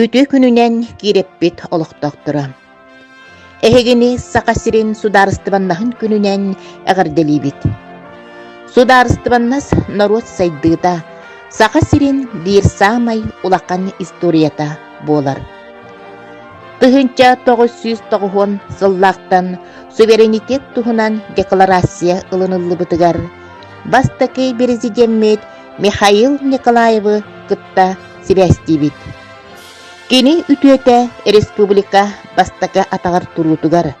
Үтүө күнүнэн киирэппит олохтоохторо! Эһигини Саха сирин Судаарыстыбаннаһын күнүнэн эҕэрдэлиибит! Судаарыстыбаннас норуот сайдыыта, Саха сирин биир саамай улахан историята буолар. Тыһыынча тоҕус сүүс тоҕуһуон сыллаахтан суверенитет туһунан декларация ылыныллыбытыгар бастакы президеммит Михаил Николаевы кытта сибээстиибит. Кини үтүөтэ республика бастакы атаҕар туруутугар,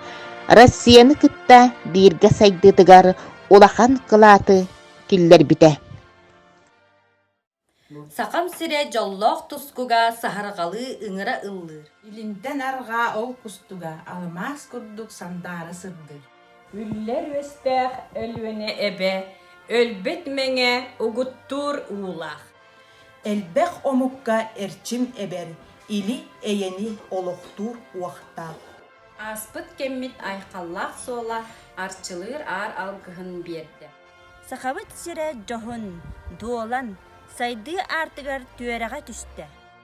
Россияны кытта бииргэ сайдыытыгар улахан кылааты киллэрбитэ. Сахам сирэ дьоллоох тускуга саһарҕалыы ыҥыра ыллыыр. Илинтэн арҕаа ол кустуга, алмаас курдук сандаара сырдыыр. Үллэр үөстээх Өлүөнэ эбэ, Өлбүт Мэҥэ угуттуур уулаах. Элбэх омукка эрчим эбэр, Или-эйэни олохтуур уохтаах. Ааспыт кэммит айхаллаах суола Арчылыыр аар алгыһын биэрдэ. Сахабыт сирэ дьоһун, дуолан, сайдыы аартыгар түөрэҕэ түстэ.